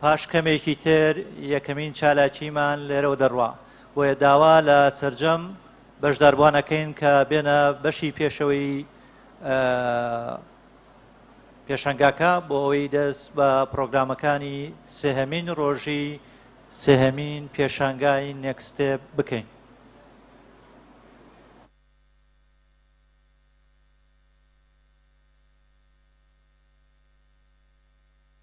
پاش کەمێکی تر یەکەمین چالاکیمان لێرەوە دەڕوا، بۆیە داوا لە سەرجەم بەشداربووان ئەکەین کە بێنە بەشی پێشەوەی پێشەنگاکە بۆ ئەوەی دەست بە پرۆگرامەکانی سێهەمین ڕۆژی سێهەمین پێشانگای نێکستێ بکەین.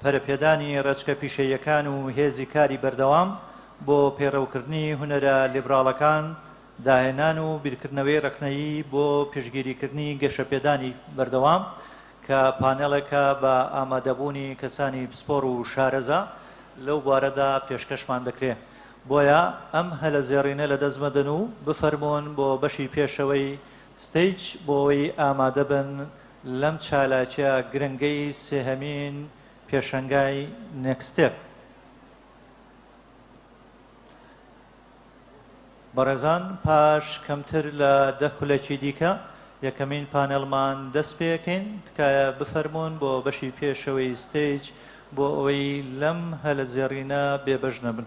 پەرەپێدانی ڕێچکە پیشەییەکان و هێزی کاری بەردەوام بۆ پەیڕەوکردنی هونەرە لیبراڵەکان، داهێنان و بیرکردنەوەی ڕەخنەیی بۆ پشتگیریکردنی گەشەپێدانی بەردەوام، کە پانێڵێکە بە ئامادەبوونی کەسانی پسپۆڕ و شارەزا لەو بوارەدا پێشکەشمان دەکرێ. بۆیە ئەم هەلە زێڕینە لەدەست مەدەن و بفەرموون بۆ بەشی پێشەوەی ستەیج بۆ ئەوەی ئامادەبن لەم چالاکیە گرنگەی سێهەمین پێشەنگای نێکستێپ بەڕێزان پاش کەمتر لە دە خولەکی دیکە یەکەمین پانێڵمان دەست پێەکەین تکایە بفەرمونون بۆ بەشی پێشەوەی ستەیج بۆ ئەوەی لەم هەلە زێڕینە بێبەش نەبن.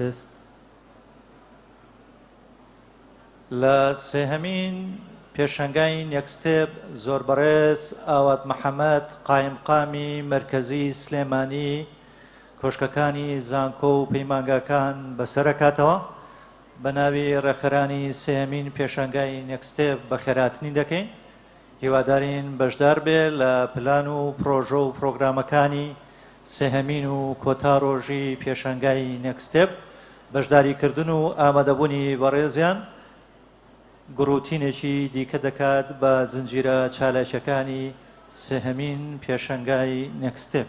تست لە سێهەمین پێشەنگای نێکستێب زۆر بەڕێز ئاوات محەممەد قایمقامی مرکزی سلێمانی کۆشکەکانی زانکۆ و پەیمانگاکان بەسەرکاتەوە. بە ناوی ڕێکخەرانی سێیەمین پێشانگای نێکستێپ بەخێراتنی دەکەین، هیوادارین بەشدار بێ لە پلان و پرۆژە و پرۆگرامەکانی سێهەمین و کۆتا ڕۆژی پێشانگای نێکستێپ بەشداری کردن و ئامادەبوونی بەڕێزیان گڕوتینێکی دیکە دەکات بە زنجیرە چالاکیەکانی سێهەمین پێشەنگای نێکستێپ.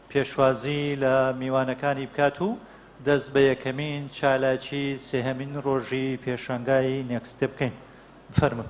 پێشوازی لە میوانەکانی بکات و دەست بە یەکەمین چالاکی سێهەمین ڕۆژی پێشانگای نێکست ستێپ بکەین. بفەرموون.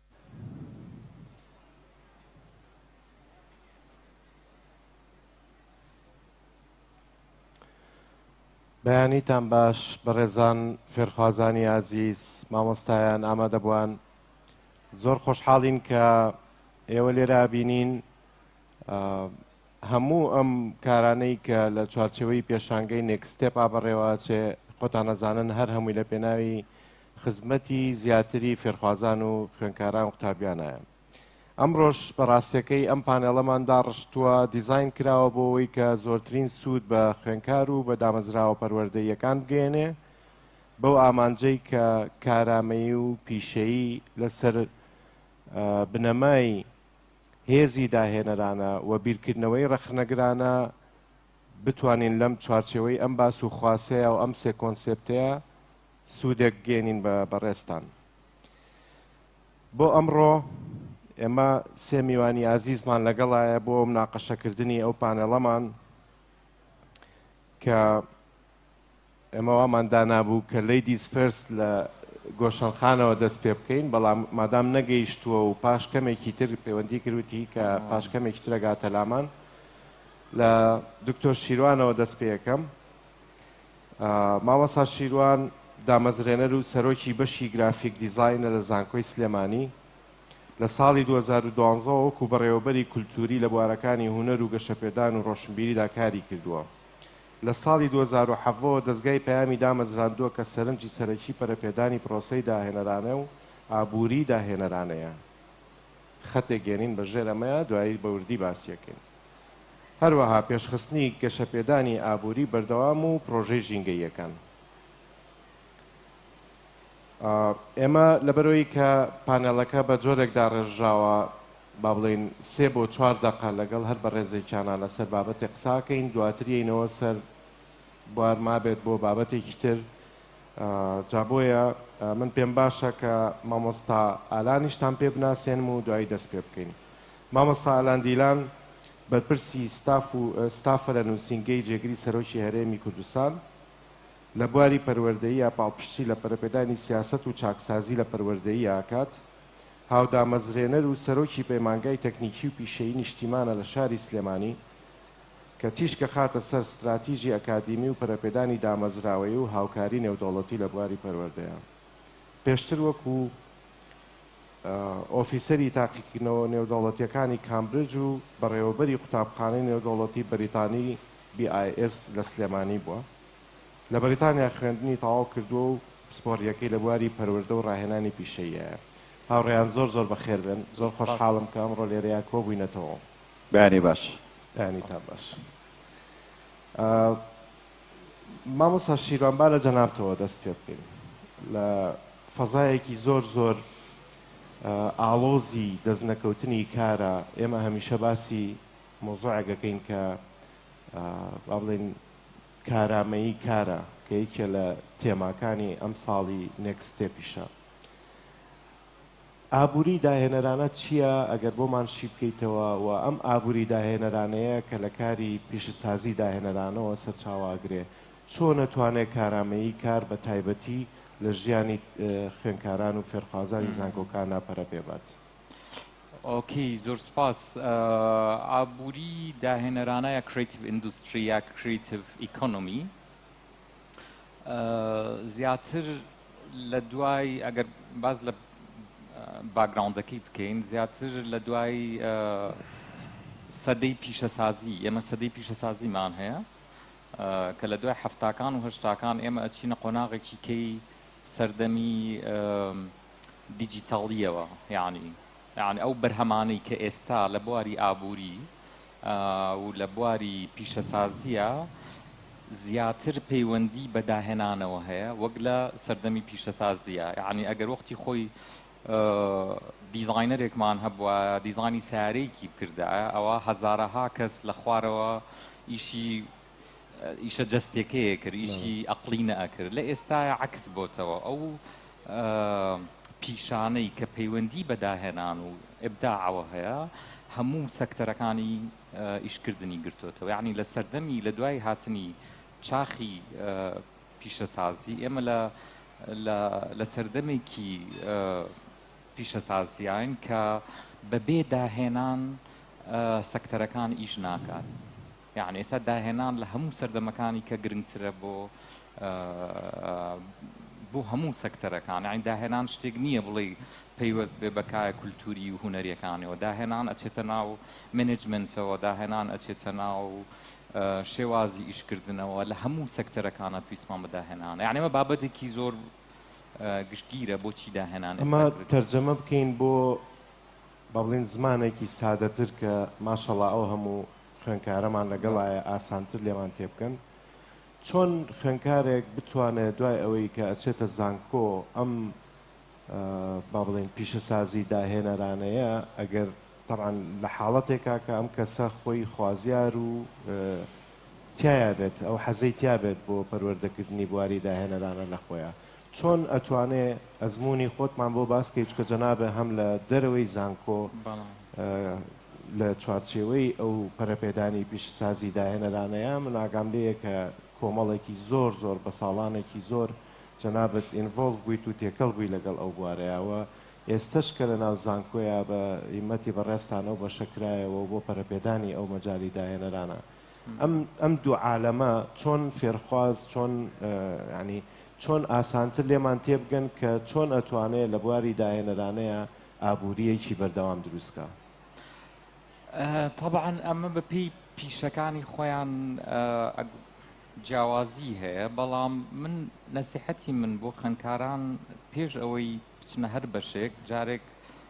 بەیانیتان باش بەڕێزان فێرخوازانی ئازیز مامۆستایان ئامادەبووان زۆر خۆشحاڵین کە ئێوە لێرا بینین هەموو ئەم کارانەی کە لە چوارچەوەی پێشانگەی نێکستێپ ئابڕێوە چێ خۆتان نەزانن هەر هەمووی لە پێناوی خزمەتی زیاتری فێرخوازان و خوێنکاران قوتابیانایە. ئەمڕۆش بە ڕاستیەکەی ئەم پانێڵەمان داڕشتووە، دیزاین کراوە بۆ ئەوەی کە زۆرترین سوود بە خوێنکار و بە دامەزراوە پەروەردەییەکان بگەیەنێ بەو ئامانجەی کە کارامەیی و پیشەیی لەسەر بنەمای هێزی داهێنەرانە و بیرکردنەوەی ڕەخنەگرانە بتوانین لەم چوارچێوەی ئەم باس و خواسەیە و ئەم سێ کۆنسێپتەیە سودێک گەینین بە بەڕێزتان. بۆ ئەمڕۆ ئێمە سێ میوانی ئازیزمان لەگەڵایە بۆ مناقەشەکردنی ئەو پانێڵەمان کە ئێمە وامان دانابوو کە لەیدیز فێرست لە گۆشەنخانەوە دەست پێ بکەین بەڵام مادام نەگەیشتووە و پاش کەمێکی تر پەیوەندی کردوتی کە پاش کەمێکی ترەگاتە لامان لە دکتۆر شیروانەوە دەست پێەکەم مامۆستا شیروان دامەزرێنەر و سەرۆکی بەشی گرافیک دیزاینە لە زانکۆی سلێمانی، لە ساڵی دوو هەزار و دوازدە وەکو بەڕێوەبەری کولتووری لە بوارەکانی هونەر و گەشەپێدان و ڕۆشنبیریدا کاری کردووە. لە ساڵی دوو هەزار و حەڤدە وە دەزگای پەیامی دامەزراندووە کە سەرنجی سەرەکی پەرەپێدانی پرۆسەی داهێنەرانە و ئابووریی داهێنەرانەیە. خەتێک گێنین بە ژێر ئەمەیە دوایی بە وردی باسی ئەکەین. هەروەها پێشخستنی گەشەپێدانی ئابووری بەردەوام و پڕۆژەی ژینگەییەکان. ئێمە لەبەرەوەی کە پانێڵەکە بە جۆرێک داڕێژراوە با بڵێین سێ بۆ چوار دەقە لەگەڵ هەر بەڕێزێکیانە لەسەر بابەتێک قساکەین دواتریینەوە سەر بوار مابێت بۆ بابەتێکی تر جابۆیە من پێم باشە کە مامۆستا ئالانیشتان پێ بناسێنم و دوایی دەست پێ بکەین مامۆستا ئالان دیلان، بەرپرسی ستاف و ستافە لە نووسینگەی جێگری سەرۆکی هەرێمی کوردستان، لە بواری پەروەردەییا پاڵپشتی لە پەرەپێدانی سیاسەت و چاکسازی لە پەروەردەییا ئەکات، هاودامەزرێنەر و سەرۆکی پەیمانگای تەکنیکی و پیشەیی نیشتیمانە لە شاری سلێمانی، کە تیشک ئەخاتە سەر ستراتیجی ئەکادیمی و پەرەپێدانی دامەزراوەیی و هاوکاری نێودەوڵەتی لە بواری پەروەردەییا. پێشتر وەکو. ئۆفیسەری تاقیکردنەوە نێودەوڵەتییەکانی کامبرج و بەڕێوەبەری قوتابخانەی نێودەوڵەتی بەریتانی BIS لە سلێمانی بووە. لە بەریتانیا خوێندنی تەواو کردووە و پسپۆڕییەکەی لە بواری پەروەردە و ڕاهێنانی پیشەییایە. هاوڕێیان زۆر زۆر بەخێر بێن. زۆر خۆشحاڵم کە ئەمڕۆ لێرەیا کۆ بووینەتەوە. بەیانی باش. بەیانیتان باش. مامۆستا شیروان با لە جەنابتەوە دەست پێ بکەین لە فەزایەکی زۆر زۆر ئاڵۆزی دەست نەکەوتنی کارە ئێمە هەمیشە باسی مۆزۆعەکەکەین کە با بڵێن کارامەیی کارە کە یەکێ لە تێماکانی ئەم ساڵی نێکستێپیشە ئابوری داهێنەرانە چیە ئەگەر بۆمان شیبکەیتەوە و ئەم ئابوری داهێنەرانەیە کە لە کاری پیشەسازی داهێنەرانەوە سەرچاوە ئەگرێ چۆن ئەتوانێ کارامەیی کار بە تایبەتی لە ژیانی خوێنکاران و فێرخوازانی زانکۆکانا پەرە پێ بات؟ ئۆکەی زۆر سوپاس ئابوری داهێنەرانە یا کریتڤ ئیندوستری یا کریتڤ ئیکۆنۆمی. زیاتر لە دوای ئەگەر باز لە باگراوندەکەی بکەین زیاتر لە دوای سەدەی پیشەسازی ئێمە سەدەی پیشەسازیمان هەیە کە لە دوای هەفتاکان و هەشتاکان ئێمە ئەچینە قۆناغێکی کەی سەردەمی دیجیتاڵیەوە یعنی یانی ئەو بەرهەمانەی کە ئێستا لە بواری ئابووری و لە بواری پیشەسازییە زیاتر پەیوەندی بە داهێنانەوە هەیە وەک لە سەردەمی پیشەسازیە یعنی ئەگەر وەختی خۆی دیزاینەرێکمان هەبووە دیزانی سارێکی بکردە ئەوە هەزارەها کەس لە خوارەوە ئیشی ئیشە جەستیەکەیە کرد ئیشی ئەقلی نەئەکرد لە ئێستاە عکس بۆتەوە ئەو پیشانەی کە پەیوەندی بەداهێنان و ئبداعەوە هەیە هەموو سەکتەرەکانی ئیشکردنی گرتوتەوە یعنی لە سەردەمی لە دوای هاتنی چاخی پیشەسازی ئێمە لە لە سەردەمێکی پیشەسازیان کە بەبێ داهێنان سەکتەرەکان ئیش ناکات یەعنی ئێستا داهێنان لە هەموو سەردەمەکانی کە گرنگترە بۆ بۆ هەموو سەکتەرەکان یعنی داهێنان شتێک نییە بڵێ پەیوەست بێ بەکایە کولتوری و هوەریەکانەوە داهێنان ئەچێتە ناو منجمنتەوە داهێنان ئەچێتە ناو شێوازی ئیشکردنەوە لە هەموو سەکتەرەکانە پێیسمان بەداهێنانە یعنیمە بابەتێکی زۆر گشتگیرە بۆچی داهێنان ئەمە تەرجەمە بکەین بۆ با بڵێین زمانێکی سادەتر کە ماشەڵا ئەو هەموو خوێنکارەمان لەگەڵایە ئاسانتر لێمان تێبکەن چۆن خوێنکارێک بتوانێت دوای ئەوەی کە ئەچێتە زانکۆ ئەم با بڵێن پیشەسازی داهێنەرانەیە ئەگەر طبعا لە حاڵەتێکا کە ئەم کەسە خۆی خوازیار و تایە بێت ئەو حەزەی تیا بێت بۆ پەروەردەکردنی بواری داهێنەرانە لە خۆیان چۆن ئەتوانێ ئەزموونی خۆتمان بۆ باس کەی چکە جەنابێ هەم لە دەرەوەی زانکۆ لە چوارچێوەی ئەو پەرەپێدانی پیشەسازی داهێنەرانەیە من ئاگام لێیە کە کۆمەڵێکی زۆر زۆر بە ساڵانێکی زۆر جەنابەت ئینڤۆڵڤ بوویت و تێکەڵ بووی لەگەڵ ئەو بوارەیەوە ئێستش کە لە ناو زانکۆیە بە هیمەتی بەڕێزتانەو بەشەکرایەوە بۆ پەرەپێدانی ئەو مەجالی داهێنەرانە ئەم ئەم دوو عالەمە چۆن فێرخواز چۆن ینی چۆن ئاسانتر لێمان تێبگەن کە چۆن ئەتوانێت لە بواری داهێنەرانەیە ئابوووریەکی بەردەوام دروستکە طبعاً ئەمە بەپی پیشەکانی خۆیان جیاوازی هەیە بەڵام من نەسیحەتی من بۆ خوێندکاران پێش ئەوەی بچنە هەر بەشێک جارێک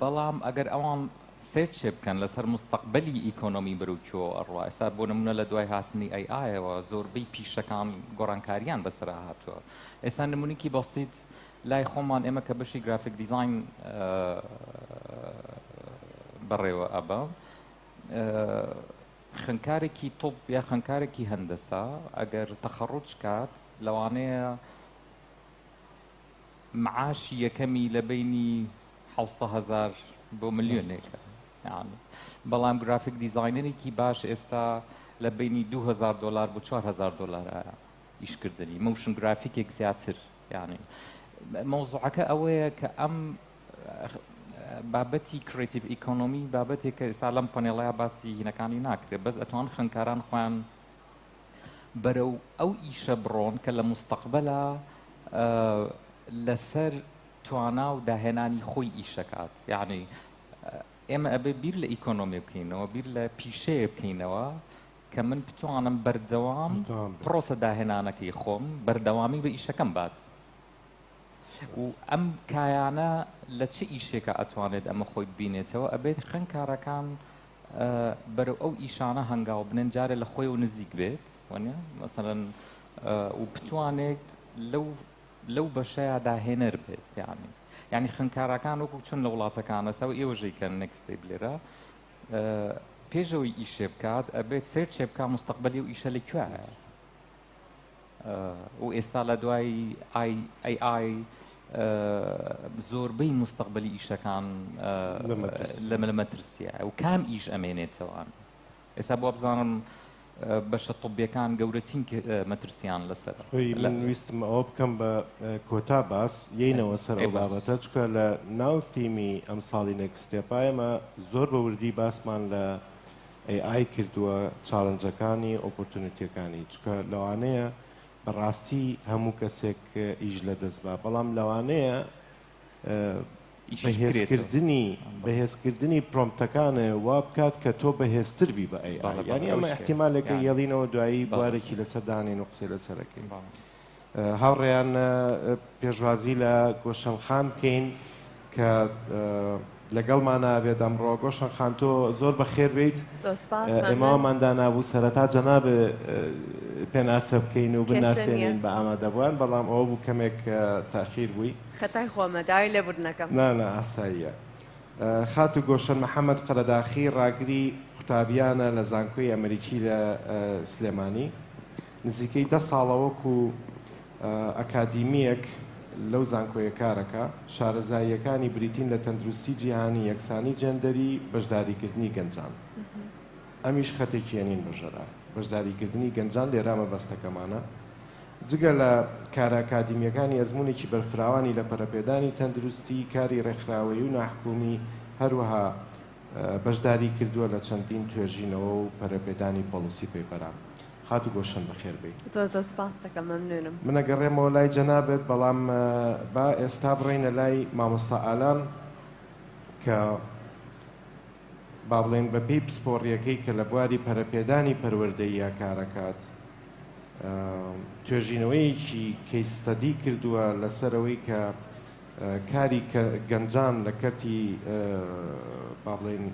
بەڵام ئەگەر ئەوان سێرچێ بکەن لەسەر مستەقبەلی ئیکۆنۆمی بەرەو کوێوە ئەڕوا ئێستا بۆ نمونە لە دوای هاتنی ئەی ئایەوە زۆربەی پیشەکان گۆڕانکاریان بەسەرا هاتووە ئێستا نمونونیکی بەسییت لای خۆمان ئێمە کە بەشی گرافیک دیزین بەڕێوە ئەبە خنکارێکی تۆپ یا خنکارێکی هەندەسا ئەگەر تەخەڕوج کات لەوانەیە معاشی یەکەمی لە بەینی حەوت سەد هەزار بۆ ملیۆنێکە یانی بەڵام گرافیک دیزاینەرێکی باش ئێستا لە بەینی 2000 دلار بۆ 4000 دلارە ئیشکردنی موشن گرافیکێک زیاتر یانی مەوزوعەکە ئەوەیە کە ئەم بابەتی کرێتیڤ ئیکۆنۆمی بابەتێک کە ئێستا لەم پەنێڵەیە باسی هینەکانی ناکرێت بەس ئەتوان خوێندکاران خۆیان بەرەو ئەو ئیشە بڕۆن کە لە موستەقبەلا لەسەر توانا و داهێنانی خۆی ئیشەکات یعنی ئێمە ئەبێ بیر لە ئیکۆنۆمی بکەینەوە بیر لە پیشەیە بکەینەوە کە من بتوانم بەردەوام پرۆسە داهێنانەکەی خۆم بەردەوامی بە ئیشەکەم بات و ئەم کایانە لە چ ئیشێکە ئەتوانێت ئەمە خۆی ببینێتەوە ئەبێت خوێنکارەکان بەرەو ئەو ئیشانە هەنگاو بنێن جارێ لە خۆی و نزیک بێت وەنە مەسەرەن و بتوانێت لەو لەو بەشەیە داهێنەر بێت یانی یعنی خوێنکارەکان وەکو چون لە وڵاتەکانە سەو ئێوەژەی کە نەکستی بلێرە پێشەوەی ئیشێ بکات ئەبێت سێر چێ بکە مستەقبلی و ئیشە لە کوێە و ئێستا لە دوای AI زۆربەی مستەقبەلی ئیشەکان لەمە لە مەترسیە و کام ئیش ئەمێنێتەوە ئێستا بۆ بزانم بەشە طبیەکان گەورەترین مەترسیان لەسەر ویستم ئەوە بکەم بە کۆتا باس یینەوە سەر بابەتە چکە لە ناو تیمی ئەم ساڵی نەکسستێپایەمە زۆر بە وردی باسمان لە ئەی ئای کردووە چاڵنجەکانی ئۆپۆرتونیتیەکانی چونکە لەوانەیە بەڕاستی هەموو کەسێک ئیش لەدەست با بەڵام لەوانەیە بەهێزکردنی بەهێزکردنی پرۆمتەکانە وا بکات کە تۆ بەهێزتر بی بە ئەی ینی ئەمە احتیمالێکە یەڵینەوە دوایی بوارێکی لەسەر دانین و قسەی لەسەرەکەی. هاوڕێیان پێشوازی لە گۆشەن خان بکەین کە لەگەڵمانە بێت ئەمڕۆ گۆشەن خان تۆ زۆر بەخێر بیت ئێماوامان دانابوو سەرەتا جەناب پێناسە بکەین و بناسێنین بە ئامادەبووان بەڵام ئەوە بوو کەمێک تاخیر بووی خەتای خۆمە داوای لێبوردنەکەم نانە ئاساییە خات و گۆشەن محەممەد قەرەداخی ڕاگری قوتابیانە لە زانکۆی ئەمریکی لە سلێمانی نزیکەی دە ساڵە وەکو ئەکادیمییەک لەو زانکۆیە کارەکا، شارەزاییەکانی بریتین لە تەندروستی جیهانی، یەکسانی جێندەری، بەشداریکردنی گەنجان. ئەمیش خەتێکی یەنین بەژەرا. بەشداریکردنی گەنجان لێرا مەبەستەکەمانە. جگە لە کارە ئەکادیمییەکانی، ئەزموونێکی بەرفراوانی لە پەرەپێدانی تەندروستی، کاری ڕێکخراوەیی و ناحکومی، هەروەها بەشداری کردووە لە چەندین توێژینەوە و پەرەپێدانی پۆڵسی پەیپەرە خاتو گۆلشەن بەخێر بێی. زۆر زۆر سپاستەکەم مەمنونم. من ئەگەڕێمەوە لای جەنابت بەڵام با ئێستا بڕۆینە لای مامۆستا ئالان کە با بڵێین بە پێی پسپۆڕیەکەی کە لە بواری پەرەپێدانی پەروەردەییا کارەکات توێژینەوەیەکی کەی ستەدی کردووە لەسەر ئەوەی کە کاری گەنجان لە کەرتی با بڵێین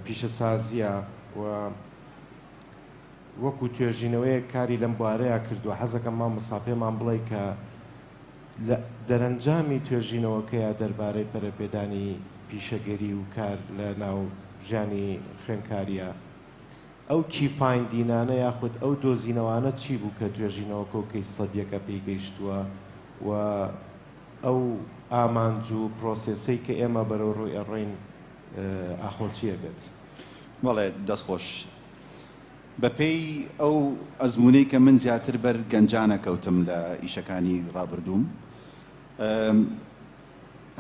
پیشەسازیە و وەکو توێژینەوەیەک کاری لەم بوارەیا کردوە حەزەکەم مامۆستا پێمان بڵێ کە لە دەرەنجامی توێژینەوەکەیا دەربارەی پەرەپێدانی پیشەگەری و کار لە ناو ژیانی خوێنکاریا ئەو کی فایندینانە یاخود ئەو دۆزینەوانە چی بوو کە توێژینەوەکە و کەیس ستەدیەکە پێی گەیشتوە و ئەو ئامانج و پرۆسێسەی کە ئێمە بەرەو ڕوی ئەڕۆین ئاخۆ چیە بێت؟ بەڵێ دەست خۆش بەپێی ئەو ئەزموونەی کە من زیاتر بەر گەنجانە کەوتم لە ئیشەکانی ڕابردووم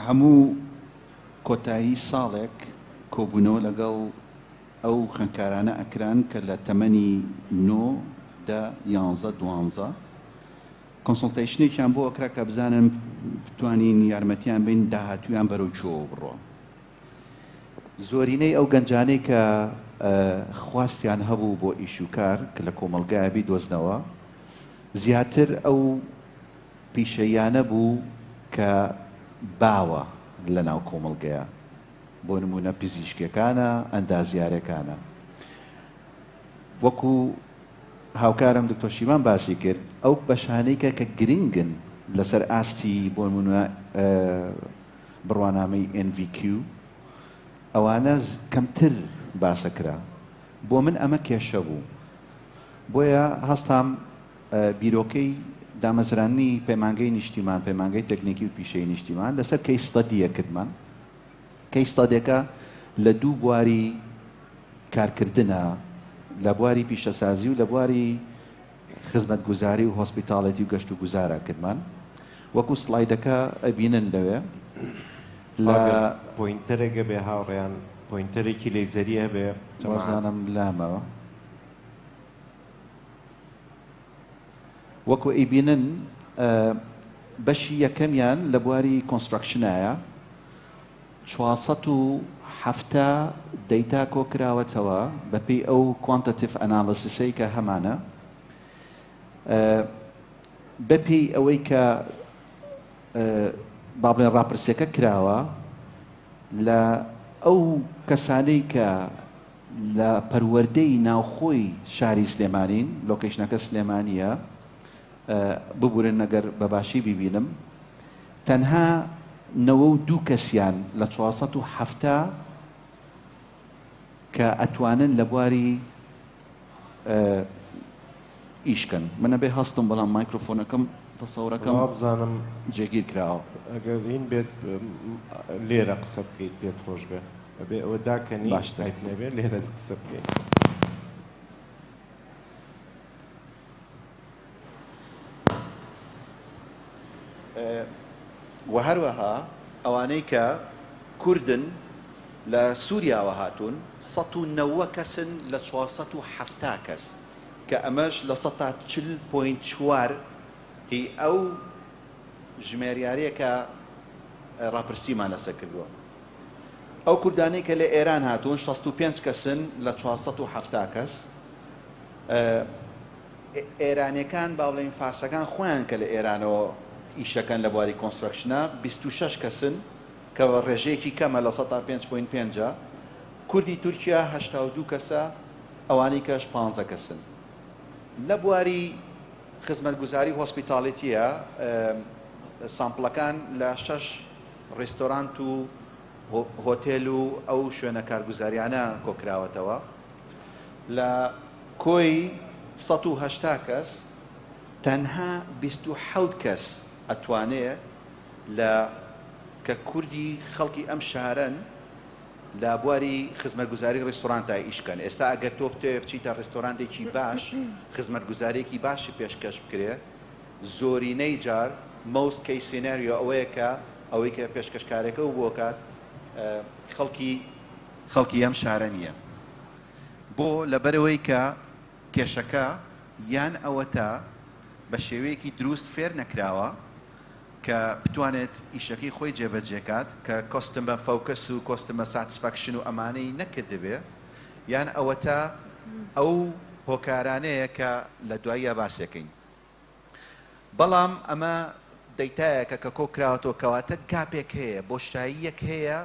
هەموو کۆتایی ساڵێک کۆبوونەوە لەگەڵ ئەو خوێندکارانە ئەکران کە لە تەمەنی نۆ دە یانزە دوانزە کۆنسڵتەیشنێکیان بۆ ئەکرا کە بزانن بتوانین یارمەتیان بەین داهاتوویان بەرەو کوێوە بڕۆ. زۆرینەی ئەو گەنجانەی کە خواستیان هەبوو بۆ ئیش و کار کە لە کۆمەڵگایە بیدۆزنەوە، زیاتر ئەو پیشەییانە بوو کە باوە لە ناو کۆمەڵگەیە، بۆ نموونە پزیشکەکانە، ئەندازیارەکانە. وەکو هاوکارم دکتۆر شیمان باسی کرد، ئەو بەشانەی کە کە گرنگن لەسەر ئاستی بۆ نموونە بڕوانامەی ئێن ڤی کیو ئەوانە کەمتر باسە کرا بۆ من ئەمە کێشە بوو بۆیە هەستام بیرۆکەی دامەزراننی پەیمانگەی نیشتیمان پەیمانگەی تەکنیکی و پیشەی نیشتیمان لەسەر کەی ستەدیە کردمان کەی ستادێکە لە دوو بواری کارکردنە لە بواری پیشەسازی و لە بواری خزمەتگوزاری و هۆسپیتاڵێتی و گەشت و گوزارە کرمان وەکو سڵایدەکە ئەبینن لەوێ لە ئاگر پۆینتەرێک هەبێ هاوڕێیان پۆینتەرێکی لەیزەری هەبێ جەماعەت. وابزانم لامەوە وەکو ئەیبینن ئە، بەشی یەکەمیان لە بواری کۆنستراکشنایە چوار سەد و حەفتا دەیتا کۆکراوەتەوە بەپێی ئەو کوانتەتیڤ ئەنالەسیسەی کە هەمانە بەپێی ئەوەی کە با بڵێن ڕاپرسیەکە کراوە لە ئەو کەسانەی کە لە پەروەردەی ناوخۆی شاری سلێمانین لۆکەیشنەکە سلێمانیە ببورن ئەگەر بە باشی بیبینم تەنها نەوە و دوو کەسیان لە چوار سەد و حەفتا کە ئەتوانن لە بواری ئیشکەن من ئەبێ هەستم بەڵام مایکرۆفۆنەکەم تەسەورەکەم وا بزانم جێگیر کراوە ئەگەر هین بێت لێرە قسە بکەیت پێت خۆش بێ ئەبێ ئەوە داکەنی باشتایت نەبێ لێرە قسە بکەیت وە هەروەها ئەوانەی کە کوردن لە سوریاوە هاتوون سەد و نەوە کەسن لە چوار سەد و حەفتا کەس کە ئەمەش لە سەد تا چل پۆینت چوار ی ئەو ژمێریارەیە کە ڕاپرسیمان لەسەر کردووە ئەو کوردانەی کە لە ئێران هاتوون شەست و پێنج کەسن لە چوار سەد و حەفتا کەس. ئێرانیەکان بابڵێین فارسەکان خۆیان کە لە ئێرانەوە ئیشەکەن لە بواری کۆنسترەکشنە بیست و شەش کەسن کە ڕێژەیەکی کەمە لە سەدا پێنج پۆینت پێنج کوردی تورکیا هەشتا و دوو کەسە ئەوانی کەش پانزە کەسن لە بواری خزمەتگوزاری هۆسپیتالیتیە سامپڵەکان لە شەش ڕێستۆرانت و هۆتێل و ئەو شوێنە کارگوزاریانە کۆکراوەتەوە لە کۆی سەد و هەشتا کەس تەنها بیست و حەوت کەس ئەتوانێ لە کە کوردی خەڵکی ئەم شارەن لە بواری خزمەتگوزاری ڕیستۆرانتا ئیشکەن ئێستا ئەگەر تۆ بتەوێ بچیتە ڕیستۆرانتێکی باش خزمەتگوزارێکی باشی پێشکەش بکرێ زۆرینەی جار Most Case Scenario ئەوەیە کە ئەوەی کە پێشکەشکارەکە و بۆ کات خەڵکی خەڵکی ئەم شارە نییە بۆ لەبەرئەوەی کە کێشەکە یان ئەوەتا بە شێوەیەکی دروست فێر نەکراوە کە بتوانێت ئیشەکەی خۆی جێبەجێ کات کە Customer Focus و Customer Satisfaction و ئەمانەی نەکردبێ یان ئەوەتا ئەو هۆکارانەیە کە لە دواییا باسێکەین. بەڵام ئەمە دەیتایەکە کە کۆکراوەتەوە کەواتە گاپێک هەیە بۆشاییەک هەیە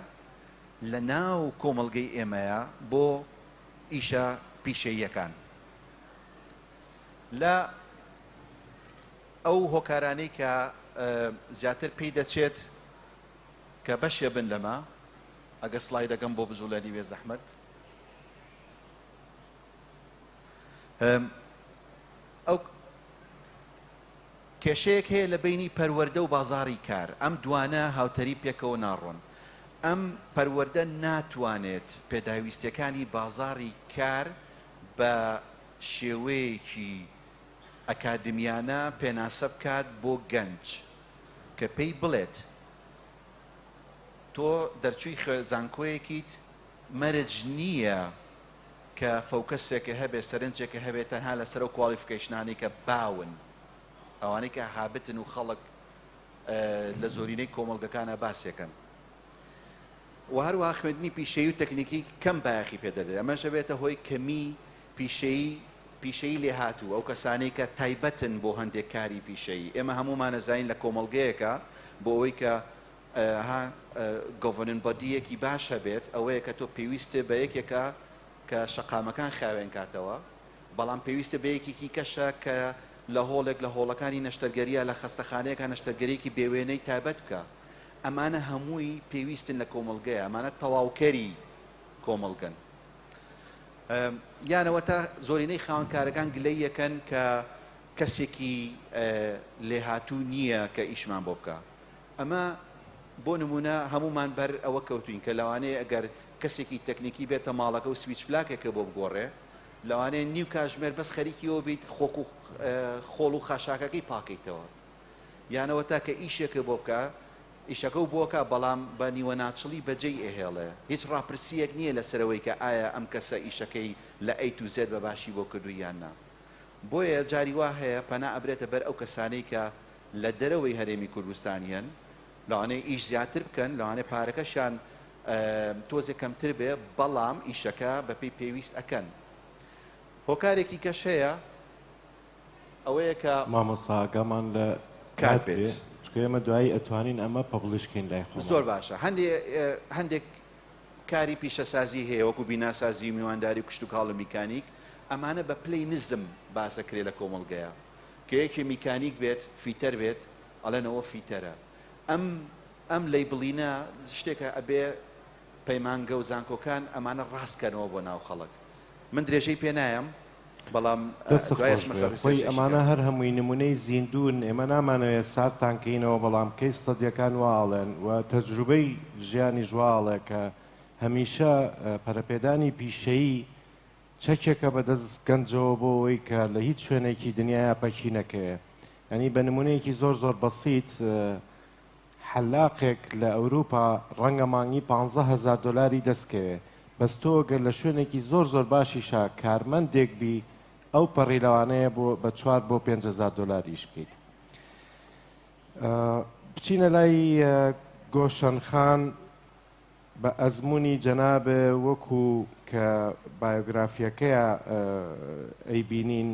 لە ناو کۆمەڵگەی ئێمەیە بۆ ئیشە پیشەییەکان لە ئەو هۆکارانەی کە زیاتر پێی دەچێت کە بەشێ بن لەمە ئەگە سلای دەگەم بۆ بجوڵێنی وێ زەحمت ئەو کێشەیەک هەیە لە بینی پەروەەردە و بازاری کار ئەم دوانە هاوتەری پێکەوە ناڕۆن ئەم پەروەەردە ناتوانێت پێداویستەکانی بازاری کار بە شێوەیەکی ئەکادمیانە پێناسە بکات بۆ گەنج کە پێی بڵێت تۆ دەرچووی زانکۆیەکیت مەرج نییە کە فۆکەسێکە هەبێت سەرنجێکە هەبێت تەنها لەسەر ئەو کوالیفکەیشنانەی کە باون ئەوانەی کە هابتن و خەڵک لە زۆرینەی کۆمەڵگەکانە باسیەکەن و هەروە خوێندنی پیشەی و تەکنیکی کەم بایەخی پێدەێت ئەمەشە بێتە هۆی کەمی پیشەی پیشەی لێ هاتوو ئەو کەسانی کە تایبەتن بۆ هەندێک کاری پیشەی ئێمە هەمومانەزین لە کۆمەلگەیەکە بۆ ئەوەی کە ها گۆڤەرنن بەدییەکی باش هەبێت ئەوەیە کە تۆ پێویستێ بە یەکێکە کە شەقامەکان خاوێن کاتەوە بەڵام پێویستە بە یەکێکی کەشە کە لە هۆڵێک لە هۆڵەکانی نەشتەرگەریە لە خەستەخانەیەکە نەشتەرگەریەکی بێ وێنەی تایبەت بکە ئەمانە هەمووی پێویستن لە کۆمەڵگەیە ئەمانە تەواوکەری کۆمەڵگەن یانەوە تا زۆرینەی خاونکارەکان گلەی یەکەن کە کەسێکی لێهاتوو نییە کە ئیشمان بۆ بکە ئەمە بۆ نموونە هەموومان بەر ئەوە کەوتوین کە لەوانەیە ئەگەر کەسێکی تەکنیکی بێتە ماڵەکە و سویچ پلاکێکە بۆ بگۆڕێ لەوانەیە نیو کاژمێر بەس خەریکیەوە بیت خۆک و خۆڵ و خاشاکەکەی پاکەیتەوە یانەوە تاکە ئیشێکە بۆ بکە ئیشەکە و بۆکە بەڵام بە نیوە ناچڵی بەجێی ئەهێڵێ هیچ ڕاپرسیەک نییە لە سەرەوەی کە ئایا ئەم کەسە ئیشەکەی لە ئەی تو زێد بە باشی بۆ کردو یان نا بۆیە جاری وا هەیە پەنا ئەبرێتە بەر ئەو کەسانەی کە لە دەرەوەی هەرێمی کوردستان یەن لەوانەیە ئیش زیاتر بکەن لەوانەیە پارەکەشیان تۆزێ کەمتر بێ بەڵام ئیشەکە بەپی پێویست ئەکەن هۆکارێکی کەش هەیە ئەوەیە کە مامۆسا ئاگامان لە کات بێت چکە ئێمە دوایی ئەتوانین ئەمە پەبڵشکەین لای خۆ زۆر باشە هەندێ هەندێک کاری پیشەسازی هەیە وەکو بیناسازی میوانداری کوشت و کاڵ میکانیک ئەمانە بە پلەی نزم باسەکرێ لە کۆمەڵگەیە کە یەکێ میکانیک بێت فیتەر بێت ئەڵێن ئەوە فیتەرە ئەم ئەم لەیبڵینە شتێکە ئەبێ پەیمانگە و زانکۆکان ئەمانە ڕاست کەنەوە بۆ ناو خەڵک من درێژەی پێ نایەم بەڵام دەست دوای خۆش ئەچمە سەر بێ خۆی ڕیسێرچێکی ئەمانە کەم. هەر هەمووی نمونەی زیندوون ئێمە نامانەوێ ساردتان کەینەوە بەڵام کەی ستەدیەکان وا ئەڵێن و تەجروبەی ژیانیش وا ئەڵێ کە هەمیشە پەرەپێدانی پیشەیی چەکێکە بە دەست گەنجەوە بۆ ئەوەی کە لە هیچ شوێنێکی دنیایا پەکی نەکەوێ یانی بە نمونەیەکی زۆر زۆر بەسیت حەلاقێک لە ئەوروپا ڕەنگە مانگی پانزە هەزار دۆلاری دەست کەوێ بەس تۆ گەر لە شوێنێکی زۆر زۆر باشیشا کارمەندێک بی ئەو پەڕی لەوانەیە بۆ بە چوار بۆ پێنج هەزار دۆلار ئیش بکەیت بچینە لای گۆشەن خان بە ئەزموونی جەنابێ وەکو کە بایۆگرافیەکەیا ئەیبینین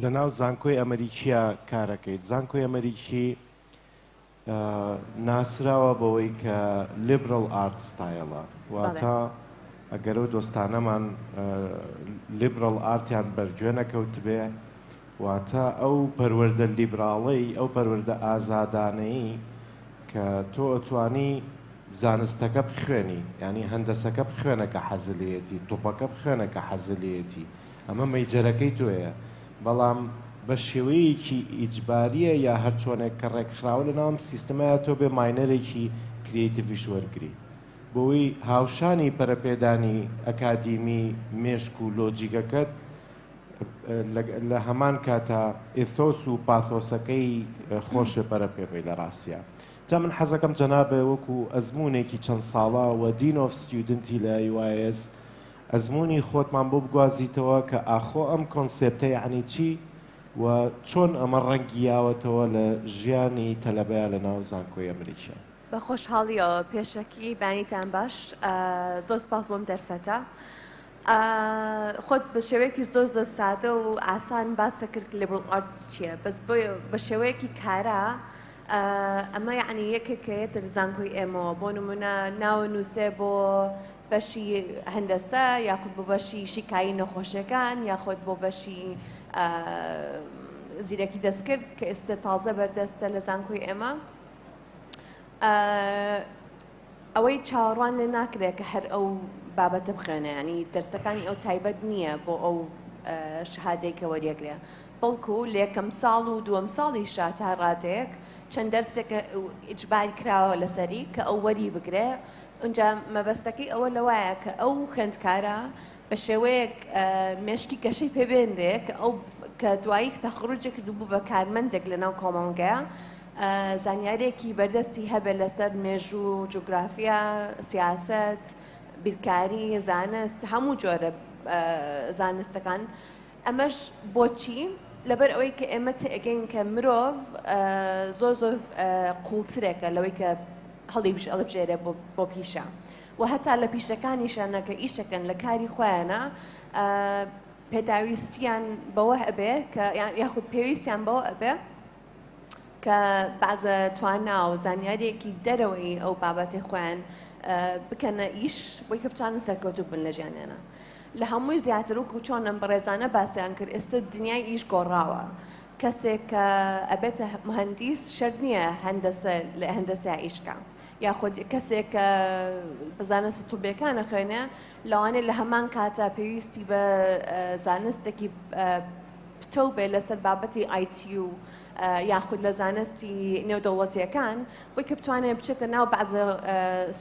لە ناو زانکۆی ئەمەریکیە کارەکەیت زانکۆی ئەمەریکی ناسراوە بەوەی کە لیبرال ئارت ستایلە واتە ئەگەر و دۆستانەمان لیبرال ئارتیان بەرگوێ نەکەوتبێ واتە ئەو پەروەەردە لیبراڵەی ئەو پەروەەردە ئازادانەی کە تۆ ئەتوانی زانستەکە بخوێنی یانی هەندەسەکە بخوێنە کە حەزت لێیەتی تۆپەکە بخوێنە کە حەزت لێیەتی ئەمە مەیجەرەکەی تۆیە بەڵام بە شێوەیەکی ئیجبارییە یا هەر چۆنێک کە ڕێکخراوە لە ناوم سیستمەیە تۆ بێ ماینەرێکی کریتیڤیش وەرگری بۆی هاوشانی پەرەپێدانی ئەکادیمی مێشک و لۆجیگەکەت لە هەمان کاتا ئیثۆس و پاثۆسەکەی خۆشێ پەرە پێ بەی لە ڕاستیا. جا من حەزەکەم جەنابێ وەکو ئەزموونێکی چەند ساڵە و دین ئۆف ستیودنتی لە UIS ئەزموونی خۆتمان بۆ بگوازیتەوە کە ئاخۆ ئەم کۆنسێپتە یەعنی چی و چۆن ئەمە ڕەنگی یاوەتەوە لە ژیانی تەلەبەیا لە ناو زانکۆی ئەمریکیا. بە خۆشحاڵیەوە پێشەکی بانیتان باش زۆر سپاس بۆم دەرفەتە. خۆت بە شێوەیەکی زۆر زۆر سادە و ئاسان باسە کرد لیبل ئارتس چییە بەس بۆ بە شێوەیەکی کارا ئەمە یعنی یەکێکەیەتە لە زانکۆی ئێمەوە بۆ نمونە ناوە نووسێ بۆ بەشی هەندەسە یاخود بۆ بەشی شیکایی نەخۆشیەکان یاخود بۆ بەشی زیرەکی دەستکرد کە ئێستا تازە بەردەستە لە زانکۆی ئێمە ئەوەی چاوەڕوان لێ ناکرێ کە هەر ئەو بابەتە بخوێنێ یانی دەرسەکانی ئەو تایبەت نییە بۆ ئەو شەهادەی کە وەریەگرێ بەڵکو لە یەکەم ساڵ و دووەم ساڵیشا تا ڕادەیەک چەند دەرسێک ئیجبار کراوە لەسەری کە ئەو وەری بگرێ ئەجا مەبەستەکەی ئەوە لەوایە کە ئەو خوێندکارە بە شێوەیەک مێشکی گەشەی پێبێنرێ کە ئەو کە دوایی تەخڕجێک کردبوو بە کارمەندێک لەناو کۆمەڵگەیە زانیاریەکی بەردەستی هەبێت لەسەر مێژوو، جوگرافیا، سیاسەت، بیرکاری، زانست، هەموو جۆرە زانستەکان ئەمەش بۆچی؟ لەبەر ئەوەی کە ئێمە تێگەین کە مرۆڤ زۆر زۆر قوڵترێکە لەوەی کە هەڵی بژ ئەڵبژێرە بۆ پیشە و هەتا لە پیشەکانیشانە کە ئیشەکەن لە کاری خۆیانە پێداویستیان بەوە ئەبێ کە یاخود پێویستیان بەوە ئەبێ کە بەعزە توانا و زانیاریەکی دەرەوەی ئەو بابەتی خۆیان بکەنە ئیش بۆی کە بتوانن سەرکەوتوب بن لە ژیانیانە لە هەمووی زیاتر وکو چۆنم بەڕێزانە باسییان کرد ئێستا دنیای ئیش گۆڕاوە کەسێک کە ئەبێتە مهندیس شەر نییە هەندەسە لە هەندەسیا ئیشکە یاخود کەسێک کە بزانستی توبێکانە خوێنە لەوانێ لە هەمان کاتە پێویستی بە زانستێکی پتەو بێت لەسەر بابەتی ئایتیو یاخود لە زانستی نێودەوڵەتیەکان بۆی کە بتوانێت بچێتە ناو بەعزە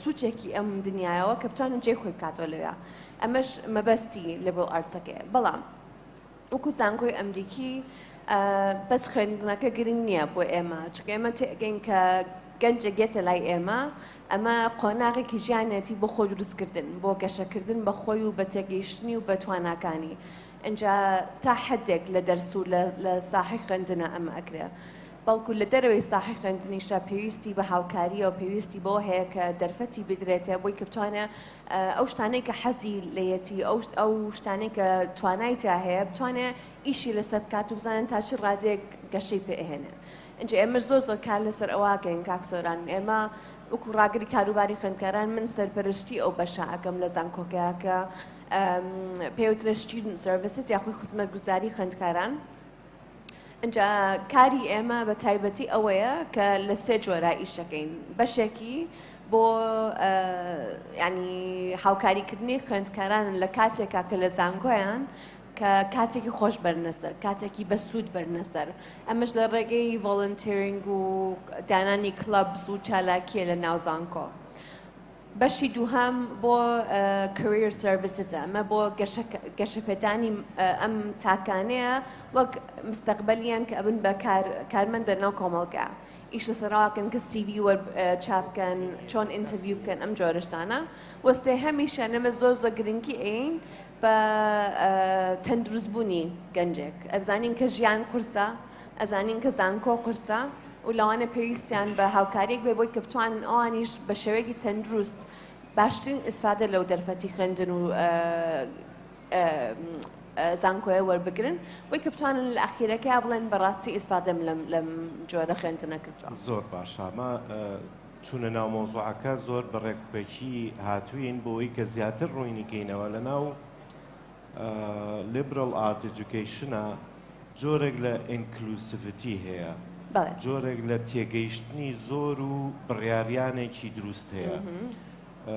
سوچێکی ئەم دنیاەوە کە بتوانن جێ خۆی بکاتەوە لەوێ ئەمەش مەبەستی لەبڵ ئارتەکەی بەڵام وەکو زانکۆی ئەمریکی بەس خوێندنەکە گرنگ نییە بۆ ئێمە چکە ئێمە تێگەین کە گەنجە گێتە لای ئێمە ئەمە قۆناغێکی ژیانەتی بۆ خۆ دروستکردن بۆ گەشەکردن بە خۆی و بە تێگەیشتنی و بە تواناکانی ئینجا تا حەدێک لە دەرس و لە ساحەی خوێندنا ئەمە ئەکرێ بەڵکو لە دەرەوەی ساحەی خوێندنیشە پێویستی بە هاوکارییە و پێویستی بەوە هەیە کە دەرفەتی بدرێتێ بۆی کە بتوانێ ئەو شتانەی کە حەزی لەیەتی ئەو ئەو شتانەی کە توانای تیا هەیە بتوانێ ئیشی لەسەر بکات و بزانن تا چ ڕادێک گەشەی پێهێنێ ئەجێ ئێمە زۆر زۆر کار لەسەر ئەوواکەین کاک سۆران ئێمە وەکو ڕاگری کاروباری خوێندکاران من سەرپەرشتی ئەو بەشە ئەەکەم لە زانکۆکەکە پێی وترێ Student Services یاخۆی خزمەتگوزاری خوێندکاران ئەجا کاری ئێمە بە تایبەتی ئەوەیە کە لە سێ جۆرا ئیش دەکەین بەشێکی بۆ ینی هاوکاریکردنی خوێندکاران لە کاتێکا کە لە زانکۆیان کە کاتێکی خۆش بەرنەسەر کاتێکی بەسوود بەرنەسەر ئەمەش لە ڕێگەی ڤۆلنتێرینگ و دانانی کلەبس و چالاکیە لە ناوزانکۆ. بەشی دووهەم بۆ Career Services ە ئەمە بۆ گەشەپێدانی ئەم تاکانەیە وەک مستەقبەلیان کە ئەبن بە کارمەندە ناو کۆمەڵگا ئیش لەسەر ڕاکەن کە سیوی وەر چاپکەن چۆن ئینتەڤیو بکەن ئەم جۆرەشتانە وەسێ هەمیشە نەمە زۆر زۆر گرنگی ئەین بە تەندروست بوونی گەنجێک ئەزانین کە ژیان قورسە ئەزانین کە زانکۆ قورسە و لەوانە پێویستیان بە هاوکاریک بێ بۆی کە بتوانن ئەوانیش بە شێوەیەکی تەندروست باشترین ئیسفادە لەو دەرفەتی خوێندن و زانکۆیە وەربگرن بۆی کە بتوانن لە ئەخیرەکەی بڵێن بەڕاستی ئیسفادەم لەم لەم جۆرە خوێندنە کردوە زۆر باشە چونە ناو مەوزوعەکە زۆر بە ڕێک و پێکی هاتووین بۆ ئەوەی کە زیاتر ڕووینی کەینەوە لە ناو لیبرال ئارت ئێجوکەیشنە جۆرێک لە ئینکلوسیڤیتی هەیە بەڵێ جۆرێک لە تێگەیشتنی زۆر و بڕیاریانێکی دروست هەیە ئە،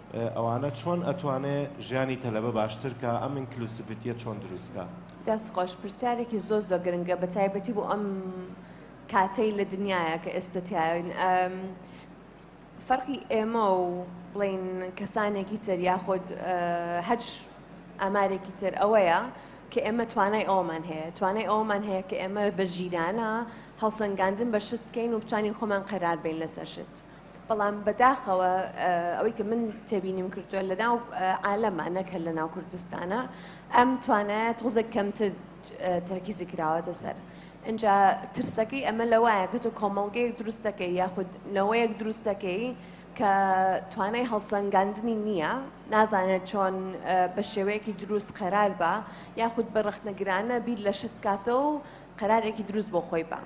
ئەوانە چۆن ئەتوانێ ژیانی تەلەبە باشتر کا ئەم ئینکلوسڤتیە چۆن دروست کا. دەست خۆش پرسیارێکی زۆر زۆر گرنگە بە تایبەتی بۆ ئەم کاتەی لە دنیاە کە ئێستا تیاین فەرقی ئێمە و بڵین کەسانێکی تر یاخود هەچ ئامارێکی تر ئەوەیە کە ئێمە توانای ئەومان هەیە توانای ئەومان هەیە کە ئێمە بە ژیرانە هەڵسەنگاندن بە شت بکەین و بتوانین خۆمان قەرار بین لەسەر شت. بەڵام بەداخەوە ئەوەی کە من تێبینیم کردووە لە ناو عالەمە نەکە لە ناو کوردستانە ئەم توانایە تۆزە کەمتر تەرکیزی کراوەتە سەر. ئەجا ترسەکەی ئەمە لە وایە کە تۆ کۆمەڵگەیەک دروستەکەی یاخود نەوەیەک دروستەکەی کە توانای هەڵسەنگاندنی نییە نازانێت چۆن بە شێوەیەکی دروست قەرار بە یاخود بە ڕخنەگرانە بیر لە شت بکاتەوە و قەرارێکی دروست بۆ خۆی بە.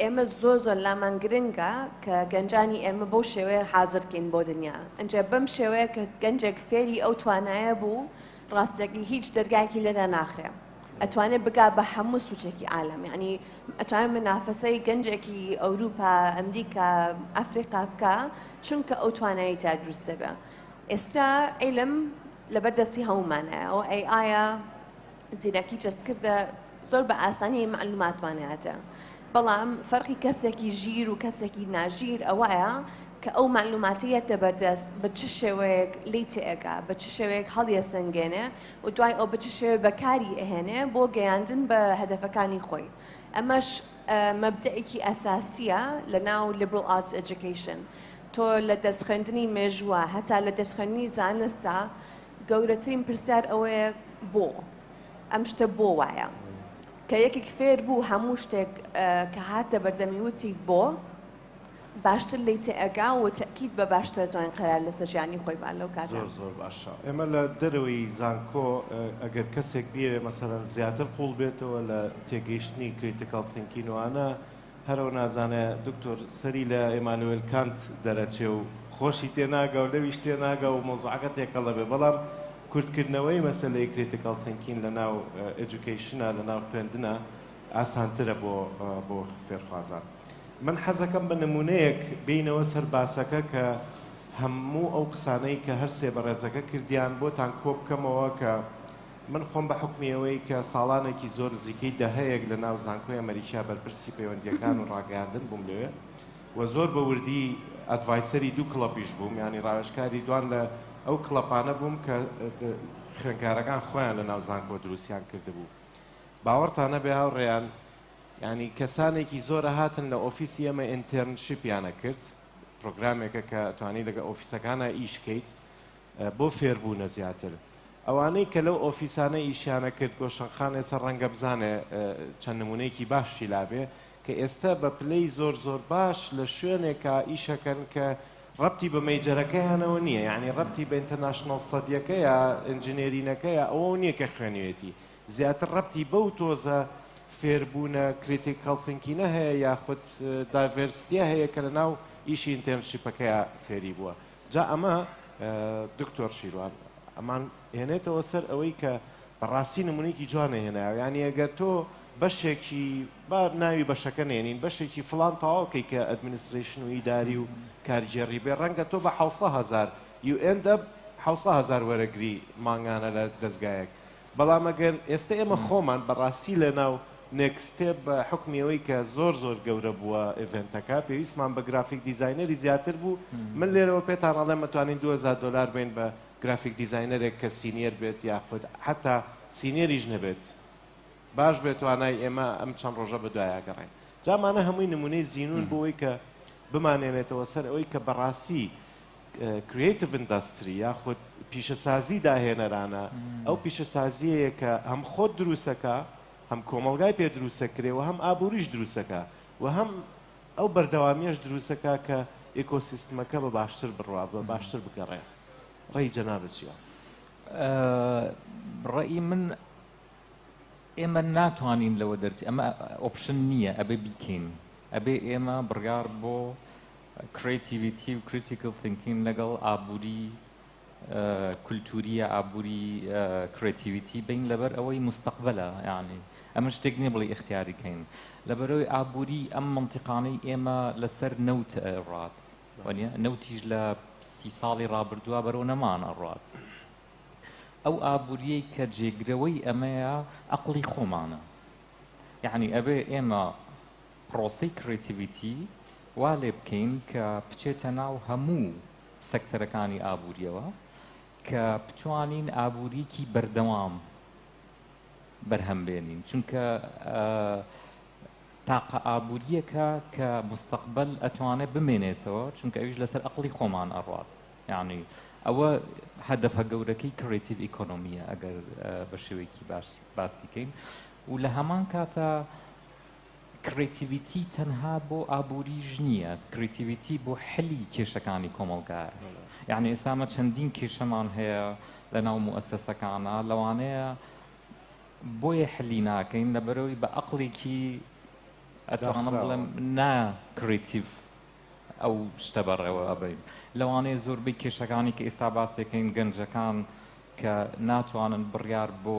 ئێمە زۆر زۆر لامان گرنگە کە گەنجانی ئێمە بەو شێوەیە حازرکەین بۆ دنیا ئەجێ بەم شێوەیە کە گەنجێک فێری ئەو توانایە بوو ڕاستەکی هیچ دەرگایکی لێدا ناخرێ ئەتوانێت بگا بە هەموو سوچێکی عالم یعنی ئەتوانێت منافەسەی گەنجێکی ئەوروپا ئەمریکا ئەفریقا بکە چونکە ئەو توانایی تا دروست دەبێ ئێستا عیلم لەبەر دەستی هەمومانایە ئەو ئەی ئایا زیرەکی جەستکردە زۆر بە ئاسانی معلوماتمان هاتە بەڵام فەرقی کەسێکی ژیر و کەسێکی ناژیر ئەوەیە کە ئەو معلوماتیەتە بەردەست بە چ شێوەیەک لی تێگا بە چ شێوەیەک هەڵیە سنگێنێ و دوای ئەو بە چ شێوێ بەکاری ئەهێنێ بۆ گەیاندن بە هەدەفەکانی خۆی ئەمەش مەبدەێکی ئەساسیە لە ناو لیبرال ئارتس ئەجوکیشن تۆ لە دەست خوێندنی مێژووە هەتا لە دەست خوێندنی زانستە گەورەترین پرسیار ئەوەیە بۆ؟ ئەم شتە بۆ وایە؟ کە یەکێک فێر بوو هەموو شتێک کە هاتە بەردەمی وتی بۆ؟ باشتر لی تێئەگا و تەکیید بە باشترتوانین قەرار لەسەر ژیانی خۆی با لەو کاتە. زۆر زۆر باشە. ئێمە لە دەرەوەی زانکۆ ئەگەر کەسێک بیەوێ مەسەلەن زیاتر قووڵ بێتەوە لە تێگەیشتنی کریتیکاڵ ثینکین و ئانا، هەرەو نازانێ دکتۆر سەری لە ئێمانوێل کانت دەرەچێ و خۆشی تێ ناگا و لەویش تێ ناگا و مەوزوعەکە تێکەڵ ئەبێ بەڵام کورتکردنەوەی مەسەلەی کریتیکەڵ ثینکین لەناو ئێجوکەیشنە لەناو خوێندنە ئاسانترە بۆ بۆ فێرخوازان من حەزەکەم بە نمونەیەک بینەوە سەر باسەکە کە هەموو ئەو قسانەی کە هەر سێ بەڕێزەکە کردیان بۆتان کۆبکەمەوە کە من خۆم بە حوکمی ئەوەی کە ساڵانێکی زۆر نزیکەی دەهەیەک لە ناو زانکۆی ئەمەریکا بەرپرسی پەیوەندییەکان و ڕاگەیاندن بووم لەوێ و زۆر بە وردی ئەدڤایسەری دوو کڵەپیش بووم یانی ڕاوێژکاری دوان لە ئەو کڵەپانە بووم کە خوێنکارەکان خۆیان لە ناو زانکۆ دروستیان کردبوو باوەڕتان نەبێ هاوڕێیان ینی کەسانێکی زۆرە هاتن لە ئۆفیسی ئەمە ئینتەرنشیپیانە کرد پرۆگرامێکە کە توانی لەگە ئۆفیسەکانە ئیشکەیت بۆ فێربوونە زیاتر ئەوانەی کە لەو ئۆفیسانە ئیشیانە کرد گۆشەنخان ئێستا ڕەنگە بزانێ چەند نمونەیەکی باشی لابێ کە ئێستا بە پلەی زۆر زۆر باش لە شوێنێکە ئیشەکەن کە ڕەتی بە مەیجەرەکەیانەوە نییە یعنی ڕەتی بە ئینتەرناشنال سەدیەکەیە ئەنجنێرینەکەیە ئەوە نییە کە خوێنوێتی زیاتر ڕەتی بەو تۆزە فێربوونە کریتیک کەڵتنکینە هەیە یاخود داڤێرستیە هەیە کە لە ناو ئیشی ئینتەرنشیپەکەیە فێری بووە جا ئەمە دکتۆر شیروان ئەمان هێنێتەوە سەر ئەوەی کە بەڕاستی نمونەیەکی جوانە هێنایەوە یانی ئەگەر تۆ بەشێکی با ناوی بەشەکە نێنین بەشێکی فلان تەواوکەی کە ئەدمنیستریشن و ئیداری و کارگێڕی بێ ڕەنگە تۆ بە حوسە هزار یوئندە حوسە هزار وەرەگری مانگانە لە دەستگایەک بەڵام ئەگەر ئێستە ئێمە خۆمان بەڕاستی لەناو نێکست ستێپ بە حوکمی ئەوەی کە زۆر زۆر گەورە بووە ئێڤێنتەکە پێویستمان بە گرافیک دیزاینەری زیاتر بوو من لێرەوە پێتان ئەڵێم ئەتوانین دوو هەزار دۆلار بین بە گرافیک دیزاینەرێک کە سینیەر بێت یاخود حەتا سینیەریش نەبێت باش بێت توانای ئێمە ئەم چەند ڕۆژە بەدوایە گەڕین جامانە هەمووی نمونەی زینون بۆ ئەوەی کە بمانێنێتەوە سەر ئەوەی کە بەڕاستی کریەیتڤ ئیندەستری یاخود پیشەسازی داهێنەرانە، ئەو پیشەسازیەیە کە هەم خۆت دروستەکا، هەم کۆمەڵگای پێ دروستەکرێ و هەم ئابووریش دروستەکا و هەم ئەو بەردەوامیەش دروستەکا کە ئێکۆسیستمەکە بە باشتر بڕوا بە باشتر بگەڕێ. ڕێی جەنابت چیە؟ ڕێی من ئێمە ناتوانین لەوە دەرچی ئەمە ئۆپشن نییە ئەبێ بیکەین ئەبێ ئێمە بڕیار بۆ کریتیڤیتی و کریتیکل ثینکینگ لەگەڵ ئابووری کولتوریە ئابووری کرێتیویتی بین لەبەر ئەوەی مستەقبلە یعنی ئەمە شتێک نیە بڵی اختیاری کەین لەبەرەوەی ئابووری ئەم منتیقانەی ئێمە لەسەر نەوت ڕات وەنیە نەوتیش لە سی ساڵی ڕابردووە بەرەو نەمان ئەڕات ئەو ئابووریەی کە جێگرەوەی ئەمەیە ئەقلی خۆمانە یعنی ئەبێ ئێمە پرۆسەی کڕیتیڤیتی وا لێ بکەین کە بچێتە ناو هەموو سەکتەرەکانی ئابوورییەوە کە بتوانین ئابووریکی بەردەوام بەرهەم بێنین چونکە تاقە ئابووریەکە کە مستەقبل ئەتوانێت بمێنێتەوە چونکە ئەویش لەسەر ئەقلی خۆمان ئەڕات یعنی ئەوە هەدەفە گەورەکەی کڕێتیڤ ئیکۆنمیە ئەگەر بە شێوەیەکی باش باسیکەین و لە هەمان کاتە کڕیتیڤیتی تەنها بۆ ئابووریش نییە، کڕیتیڤیتی بۆ حلی کێشەکانی کۆمەڵگایە. یەعنی ئێستا ئەمە چەندین کێشەمان هەیە لە ناو موئەسەسەکانا، لەوانەیە بۆیە حلی ناکەین لەبەرەوەی بە ئەقڵێکی ئەتوانم بڵێم نا کڕیتیڤ ئەو شتە بەڕێوە ئەبەین. لەوانەیە زۆربەی کێشەکانی کە ئێستا باسێکەین گەنجەکان کە ناتوانن بڕیار بۆ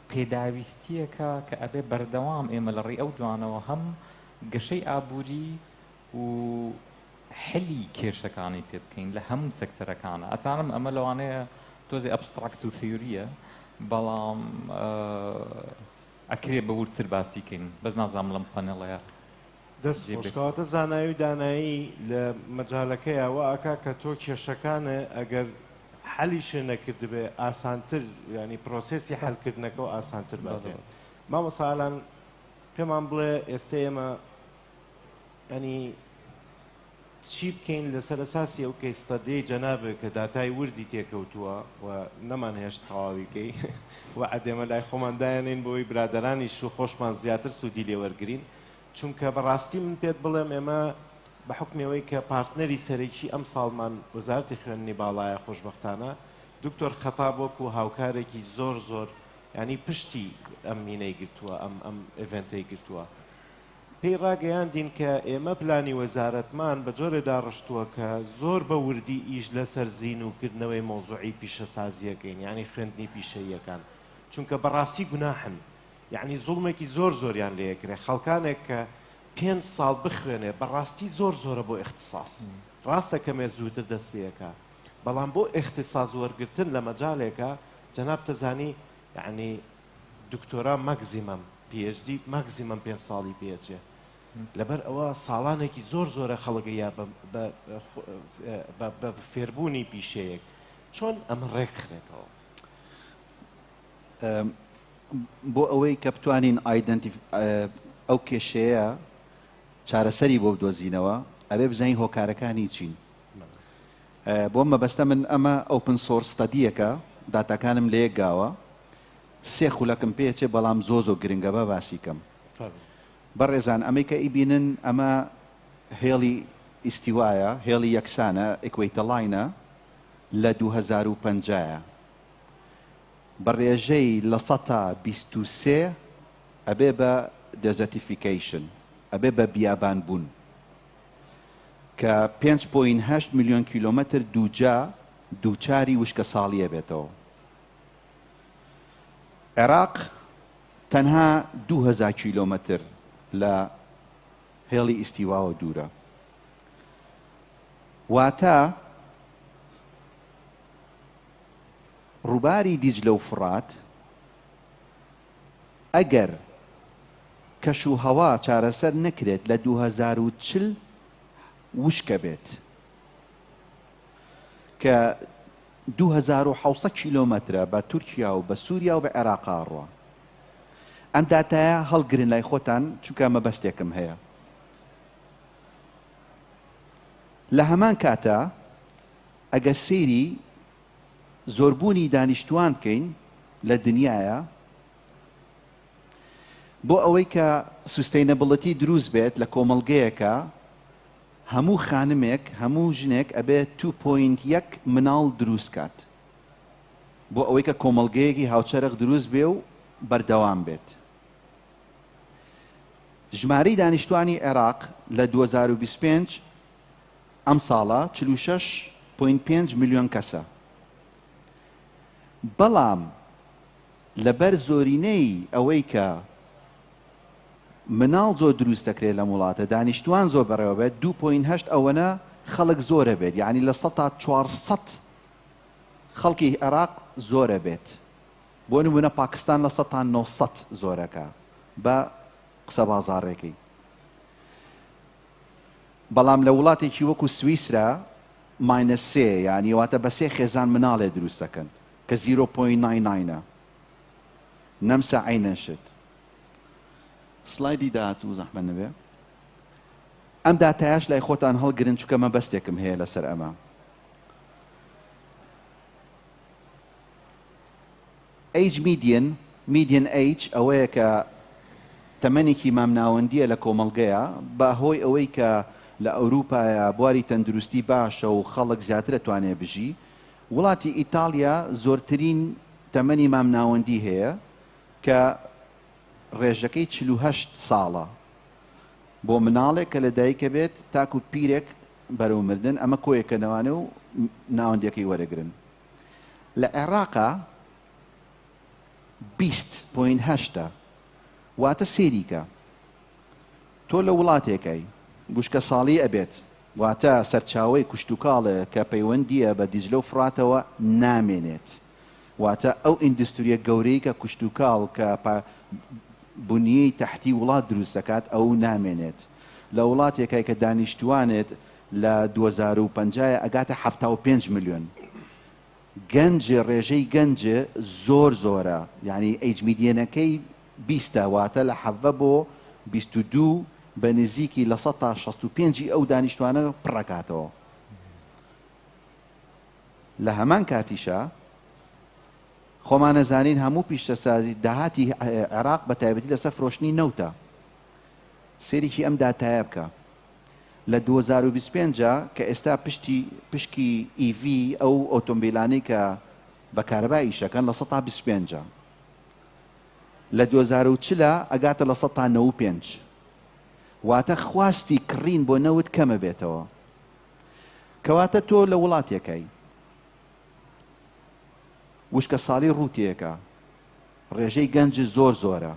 پێداویستییەکە کە ئەبێ بەردەوام ئێمە لە ڕێی ئەو دوانەوە هەم گەشەی ئابووری و حلی کێشەکانی پێ بکەین لە هەموو سەکتەرەکانە ئەزانم ئەمە لەوانەیە تۆزی ئەبستراکت و ثیوریە بەڵام ئەکرێ بە وردتر باسیکەین بەس نازام لەم پەنێڵەیە دەست خۆش کەواتە زانایی و دانایی لە مەجالەکەیا وا ئەکا کە تۆ کێشەکانە ئەگەر حەلیشێ نەکردبێ ئاسانتر ینی پرۆسسی حەلکردنەکەەوە ئاسانتر باتێن مامەسالان پێمان بڵێ ئێستە ئێمە ئەنی چی بکەین لەسەر ئەساسی ئەو کەیس ستەدیەی جەنابت کە داتای وردی تێکەوتووە و نەمانهێشت تەواوی کەی و ئەدێمە لای خۆمان دایەنێین بۆی برادەرانیش و خۆشمان زیاتر سوودی لێ وەرگرین چونکە بەڕاستی من پێت بڵێم ئێمە بە حکمی ئەوەی کە پارتنەری سەرەکی ئەم ساڵمان وەزارەتی خوێندنی باڵایە خۆشبەختانە دکتۆر خەتاب وەکو هاوکارێکی زۆر زۆر ینی پشتی ئەم مینەی گرتووە ئەم ئەم ئێڤێنتەی گرتووە پێی ڕاگەیاندین کە ئێمە پلانی وەزارەتمان بە جۆرێ داڕشتووە کە زۆر بە وردی ئیش لەسەر زین و کردنەوەی مەوزوعی پیشەسازییەکەین یانی خوێندنی پیشەییەکان چونکە بەڕاستی گوناحن یانی زوڵمێکی زۆر زۆریان لێ ئەکرێ خەڵکانێک کە پێنج ساڵ بخوێنێ بەڕاستی زۆر زۆرە بۆ ئیختیساس ڕاستە کەمێ زووتر دەست پێ ئەکا بەڵام بۆ ئیختیساس وەرگرتن لە مەجالێکە جەنابتە زانی یانی دکتۆرا ماکزیمەم پی ئێچ دی ماکزیمەم پێنج ساڵی پێ ئەچێ لەبەر ئەوە ساڵانێکی زۆر زۆرە خەڵک یا بە فێربوونی پیشەیەک چۆن ئەمە ڕێکخرێتەوە بۆ ئەوەی کە بتوانین ئایدنتی ئەو کێشەیە چارەسەری بۆ بدۆزینەوە ئەبێ بزانین هۆکارەکانی چین بۆم مەبەستە من ئەمە ئۆپن سۆرس ستەدیەکە داتاکانم لەیەک گاوە سێ خولەکم پێچێ بەڵام زۆ زۆ گرنگە با باسی کەم بەڕێزان ئەمەی کە ئیبینن ئەمە هێڵی ئیستیوایە هێڵی یەکسانە ئکوەیتەڵاینە لە دوو هەزار و پەنجا بە ڕێژەی لە سەتا بیست و سێ ئەبێ بە دەزەتیفیکەیشن ئەبێ بە بیابان بوون کە پێنج پۆینت هەشت ملیۆن کیلۆمەتر دووجا دووچاری وشکەساڵییە بێتەوە. عێراق تەنها دوو هەزار کیلۆمەتر لە هێڵی ئیستیواوە دوورە. واتە ڕووباری دیجلە و فڕات ئەگەر کەش و هەوا چارەسەر نەکرێت لە دوو هەزار و چل وشکە بێت کە دوو هەزار و حەوت سەد کیلۆمەترە بە تورکیا و بە سووریا و بە عێراقا ڕوە ئەم داتایە هەڵگرن لای خۆتان چونکە مەبەستێکم هەیە لە هەمان کاتە ئەگەر سەیری زۆربوونی دانیشتوان بکەین لە دنیایا بۆ ئەوەی کە سوستەینەبڵەتی دروست بێت لە کۆمەڵگەیەکا هەموو خانمێک هەموو ژنێک ئەبێ تو پۆینت یەک مناڵ دروست کات بۆ ئەوەی کە کۆمەڵگەیەکی هاوچەرخ دروست بێ و بەردەوام بێت ژمارەی دانیشتوانی عێراق لە دوو هەزار و بیست و پێنج ئەم ساڵە چل و شەش پۆینت پێنج ملیۆن کەسە، بەڵام لەبەر زۆرینەی ئەوەی کە مناڵ زۆر دروست دەکرێت لەم وڵاتە، دانیشتووان زۆر بەڕێوە بێت، دوو پۆینت هەشت ئەوەنە خەڵک زۆرە بێت، یانی لە سەتا چوار سەد خەڵکی عێراق زۆرە بێت، بۆ نموونە پاکستان لە سەتا نۆ سەد زۆرەکە بە قسە بازاڕێکی. بەڵام لە وڵاتێکی وەکو سویسرا ماینەس سێ یانە واتە بە سێ خێزان مناڵێ دروست دەکەن کە زیرۆ پۆینت ناین ناینە نەمسە عەینەن شت. سڵایدی داهاتوو زەحمەت نەبێ. ئەم داتایەش لای خۆتان هەڵگرن چونکە مەبەستێکم هەیە لەسەر ئەمە. ئەیج میدیەن، Median Age، ئەوەیە کە تەمەنێکی مامناوەندییە لە کۆمەڵگەیا، بە هۆی ئەوەی کە لە ئەوروپایا بواری تەندروستی باشە و خەڵک زیاتر ئەتوانێ بژی. وڵاتی ئیتاڵیا زۆرترین تەمەنی مامناوەندی هەیە کە ڕێژەکەی چل و هەشت ساڵە بۆ مناڵێک کە لە دایکە بێت تاکو پیرێک بەرەو مردن، ئەمە کۆیە کە نەوانە و ناوەندیەکەی وەرەگرن. لە عێڕاقا بیست پۆینت هەشتە واتە سێری کە تۆ لە وڵاتێکای گوشکە ساڵی ئەبێت واتە سەرچاوەی کوشتوکاڵێ کە پەیوەندیە بە دیجلە و فراتەوە نامێنێت واتە ئەو ئیندستوریە گەورەی کە کوشتوکاڵ کە بنیەی تحتی وڵات دروست دەکات ئەو نامێنێت لە وڵاتێکای کە دانیشتوانێت لە دوەزارو پەنجاێ ئەگاتە حەفتاو پێنج ملیۆن گەنجێ رێژەی گەنجێ زۆر زۆرە یانی ئەیج میدیەنەکەی بیستە واتە لە حەڤە بۆ بیست و دوو بە نزیکی لە سەد تا شەست و پێنج ی ئەو دانیشتوانە پڕەکاتەوە لە هەمان کاتیشا خۆمانەزانین هەموو پیشتەسازی داهاتی عێراق بە تایبەتی لەسەر فرۆشتنی نەوتە سێریکی ئەم داتایە بکە لە دوو هەزار و بیست و پێنج ە کە ئێستا پشتی پشکی ئی ڤی ئەو ئۆتۆمبیلانەی کە بە کارەبا ئیشەکەن لە سەد تا بیست و پێنج ە لە دوو هەزار و چل ە ئەگاتە لە سەد تا نەوەد و پێنج واتە خواستی کڕین بۆ نەوت کەمەبێتەوە کەواتە تۆ لە وڵاتێکای وشکە ساڵی ڕووتێکە ڕێژەی گەنج زۆر زۆرە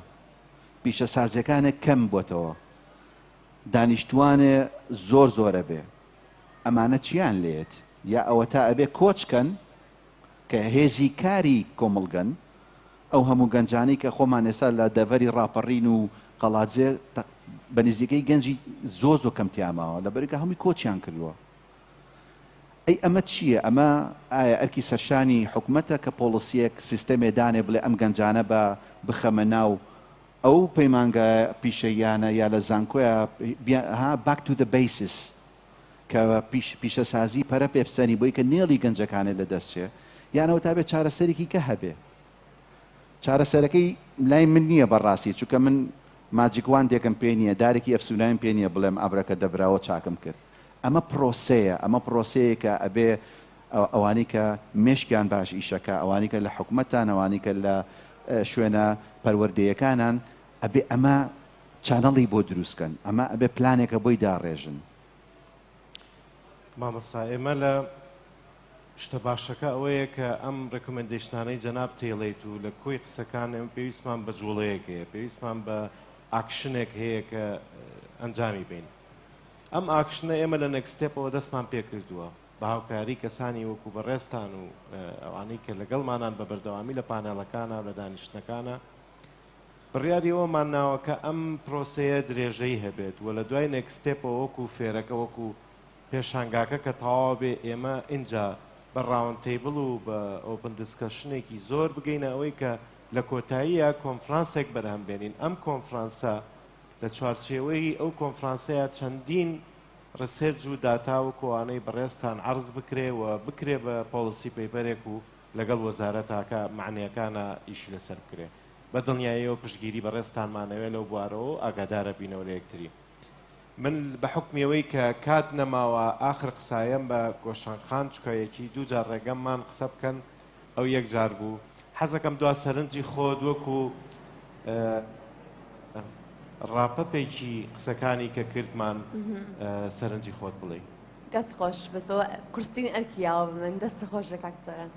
پیشەسازیەکانە کەم بۆتەوە دانیشتوانێ زۆر زۆر ئەبێ ئەمانە چیان لێت یا ئەوەتا ئەبێ کۆچ کەن کە هێزی کاری کۆمەڵگەن ئەو هەموو گەنجانی کە خۆمان ئێستا لە دەڤەری ڕاپەڕین و قەڵادزێ بە نزیکەی گەنجی زۆ زۆ کەم تیاماوە لە بەرگە هەمووی کۆچیان کردووە ئەی ئەمە چییە ئەمە ئایا ئەرکی سەرشانی حکوومەتە کە پۆڵسیەک سیستەمێ دانێ بڵێ ئەم گەنجانە بە بخەمە ناو ئەو پەیمانگا پیشەییانە یا لە زانکۆیا ها باک تو دە بەیسس کە پیش پیشەسازی پەرە پێ بسەنی بۆی کە نێڵی گەنجەکانێ لە دەست چێ یانەوە تا بێ چارەسەرێکی کە هەبێ چارەسەرەکەی لای من نییە بەڕاستی چونکە من ماجیک وان دێکم پێ نییە دارێکی ئەفسونایم پێ نییە بڵێم ئەبرەکە دەبراوە چاکم کرد ئەمە پرۆسەیە ئەمە پرۆسەیەکە ئەبێ ئەوانەی کە مێشکیان باش ئیشەکا ئەوانەی کە لە حکومەتان ئەوانەی کە لە شوێنە پەروەردەیەکانان ئەبێ ئەمە چانەڵی بۆ دروست کەن ئەمە ئەبێ پلانێکە بۆی داڕێژن مامۆستا ئێمە لە شتە باشەکە ئەوەیە کە ئەم ڕکمنندشتانەی جەناب تێڵیت و لە کۆی قسەکان ئەم پێویستمان بە جوڵەیەک هەیە پێویستمان بە ئاکشنێک هەیە کە ئەنجامی بین ئەم ئاکشنە ئێمە لە نەکسستێپەوە دەستمان پێکردووە بە هاوکاری کەسانی وەکو بەڕێزتان و ئەوانەی کە لەگەڵمانان بە بەردەوامی لە پانێڵەکانە و لە دانیشتنەکانە، بڕیاری ئەوەمان ناوە کە ئەم پرۆسەیە درێژەی هەبێت و لە دوای نێکست ستێپەوە وەکو فێرەکە وەکو پێشانگاکە کە تەواو بێ ئێمە ئینجا بە ڕاوند تەیبڵ و بە ئۆپن دیسکەشنێکی زۆر بگەینە ئەوەی کە لە کۆتاییە کۆنفرانسێک بەرهەم بێنین ئەم کۆنفرانسە لە چوارچێوەی ئەو کۆنفرانسەیە چەندین ڕسێرج و داتا وەکو ئەوانەی بەڕێزتان عەڕز بکرێ و بکرێ بە پۆڵسی پەیپەرێک و لەگەڵ وەزارەتاکە مەعنیەکانا ئیشی لەسەر بکرێ. بە دڵنیاییەوە پشتگیری بەڕێزتانمان ئەوێ لەو بوارەوە و ئاگادارە بینەوە لە یەکتری. من بە حوکمی ئەوەی کە کات نەماوە ئاخر قسایەم بە گۆشەنخان چکە یەکی دوو جار ڕێگەم مان قسە بکەن، ئەو یەک جار بوو حەزەکەم دوا سەرنجی خۆت وەکو ڕاپەپێکی قسەکانی کە کردمان سەرنجی خۆت بڵێ دەست خۆش بەسەوە قرستین ئەرکی یاوە بە من دەستە خۆش لە کاکتۆران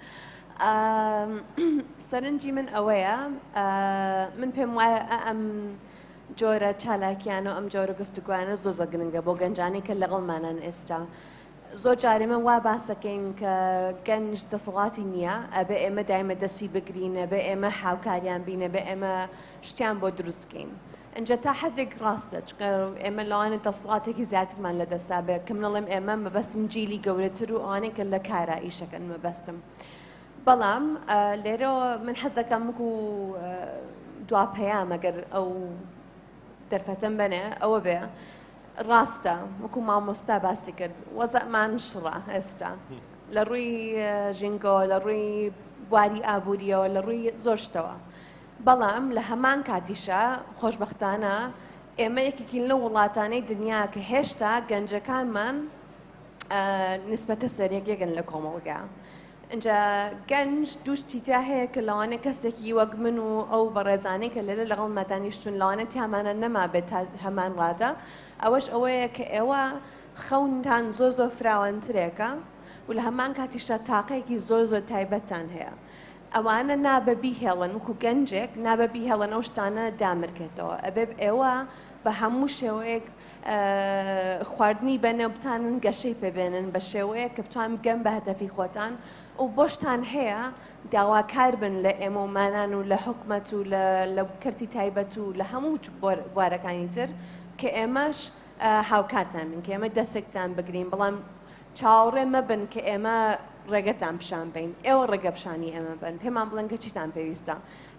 سەرنجی من ئەوەیە من پێم وایە ئەم جۆرە چالاکیان و ئەم جۆرە گفتوگویانە زۆ زۆ گرنگە بۆ گەنجانی کە لەگەڵمانان ئێستا زۆر جار ئێمە وا باس دەکەین کە گەنج دەسەڵاتی نییە، ئەبێ ئێمە دایمە دەستی بگرین، ئەبێ ئێمە هاوکاریان بین، ئەبێ ئێمە شتیان بۆ دروست بکەین. ئینجا تا حەدێک ڕاستە، چونکە ئێمە لەوانە دەسەڵاتێکی زیاترمان لە دەستە، بە کە منەڵێم ئێمە مەبەستم جیلی گەورەتر و ئەوانەی کە لە کارا ئیشەکەن مەبەستم. بەڵام لێرەوە من حەزەکەم وەکو دوا پەیام ئەگەر ئەو دەرفەتەم بەنێ ئەوە بێ، ڕاستە وەکو مامۆستا باسی کرد وەزەمان شڕە ئێستا لە ڕووی ژینگەوە لە ڕووی بواری ئابوووریەوە لە ڕووی زۆرشتەوە بەڵام لە هەمان کاتیشە خۆشببختانە ئێمە یەکێکین لە وڵاتانەی دنیا کە هێشتا گەنجەکانمان نسبەتە سەرێک یەگەن لە کۆمەڵگە ئینجا گەنج دوو شتی تیا هەیە کە لەوانەیە کەسێکی وەک من و ئەو بەڕێزانەی کە لێرە لەگەڵما دانیشتوون لەوانەیە تیامانە نەمابێت تا هەمان ڕادە ئەوەش ئەوەیە کە ئێوە خەونتان زۆر زۆر فراوانترێکە و لە هەمان کاتیشدا تاقەیەکی زۆر زۆر تایبەتتان هەیە ئەوانە نابە بیهێڵن وکو گەنجێک نابە بیهێڵن ئەو شتانە دامرکێتەوە ئەبێ ئێوە بە هەموو شێوەیەک خواردنی بەنێو بتانن گەشەی پێبێنن بە شێوەیە کە بتوان بگەن بە هەدەفی خۆتان و بۆشتان هەیە داواکار بن لە ئێمە و مانان و لە حکومەت و لە کەرتی تایبەت و لە هەموو بوارەکانی تر کە ئێمەش هاوکارتان بن کە ئێمە دەستێکتان بگرین بەڵام چاوەڕێ مەبن کە ئێمە ڕێگەتان پیشان بین ئێوە ڕێگە پیشانی ئێمە بن پێمان بڵێن کە چیتان پێویستە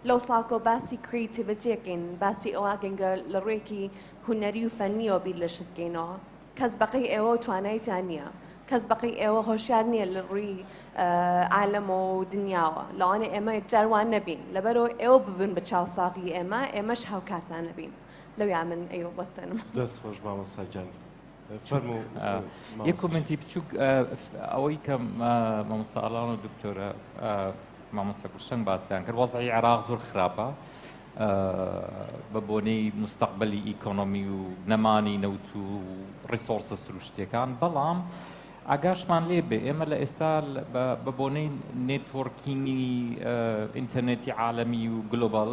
لەو ساکۆ باسی کریتیڤەتیەکەین باسی ئەوواگەنگە لە ڕێکی هونەری و فەنیەوە بیر لە شت کەینەوە کەس بەقەی ئێوەو توانای تیا نیە کەس بەقەی ئێوە هۆشیار نیە لە ڕووی عالەم و دنیاوە لەوانێ ئێمە یەکجار وان نەبین لەبەرەوە ئێوە ببن بە چاوساغی ئێمە ئێمەش هاوکارتان نەبین لەویا من ئەی وەستێنم. دەست خۆش مامۆستا گیان. یە کۆمنتی بچووک ئەوەی کە مامۆساڵان و دکتۆرە مامۆستا گوشتن باسییان کرد وەزعی عراق زۆر خراپە بە بۆنەی مستەقبلی ئیکۆنۆمی و نەمانی نەوت و ڕیسۆرسە سروشتیەکان بەڵام ئاگاشمان لێ بێ ئێمە لە ئێستا بە بۆنەی نێتۆرکینگی ئینتەرنێتی عاالەمی و گلۆبال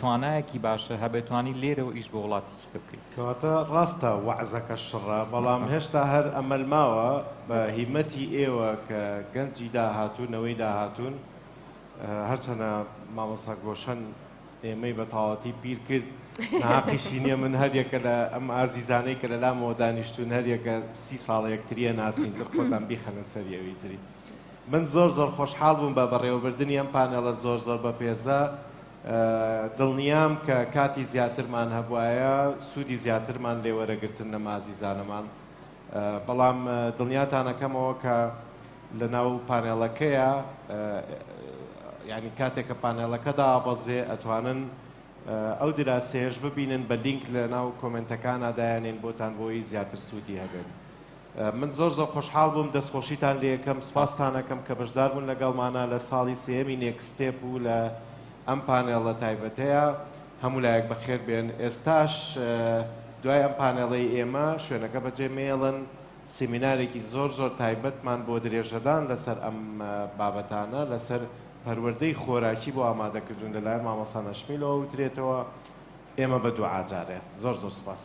توانایەکی باشە هەبێ توانی لێرەوە ئیش بۆ وڵاتی چیکە بکەیت کەواتە ڕاستە وەعزەکە شڕە بەڵام هێشتا هەر ئەمەل ماوە بە هیمەتی ئێوە کە گەنجی داهاتوو نەوەی داهاتوون هەرچەنە مامەسا گۆشەن ئێمەی بە تاواتی پیر کرد ناقیشی نییە من هەریەکە لە ئەم ئازیزانەی کە لە لامەوە دانیشتون هەریەکە سی ساڵە یەکتریە ناسین تر خۆتان بیخەنە سەریەوەی تری. من زۆر زۆر خۆشحاڵ بووم بە بەڕێوەبردنی ئەم پانێڵە زۆر زۆر بەپێزە، دڵنیام کە کاتی زیاترمان هەبوایە سوودی زیاترمان لێ وەرەگرتن لەم ئازیزانەمان، بەڵام دڵنیاتان ئەکەمەوە کە لەناو پانێڵەکەیە یانی کاتێک کە پانێڵەکە دابەزێ ئەتوانن ئەو دراسەیەش ببینن بە لینک لەناو کۆمێنتەکانا دایەنێین بۆتان بۆی زیاتر سوودی هەبێت. من زۆر زۆر خۆشحاڵ بووم دەست خۆشیتان لێکەم سوپاستانەکەم کە بەشداربوون لەگەڵمانە لە ساڵی سێەمی نێکستێپ و لە ئەم پانێڵە تایبەتەیە هەموو لایەک بەخێر بێن ئێستاش دوای ئەم پانێڵەی ئێمە شوێنەکە بەجێ مێڵن سیمینارێکی زۆر زۆر تایبەتمان بۆ درێژەدان لەسەر ئەم بابەتانە لەسەر پەروەردەی خۆراکی بۆ ئامادەکردن لەلایەن مامەسا نەشمیلەوە وترێتەوە ئێمە بە دوعاجارێ زۆر زۆر سپاس.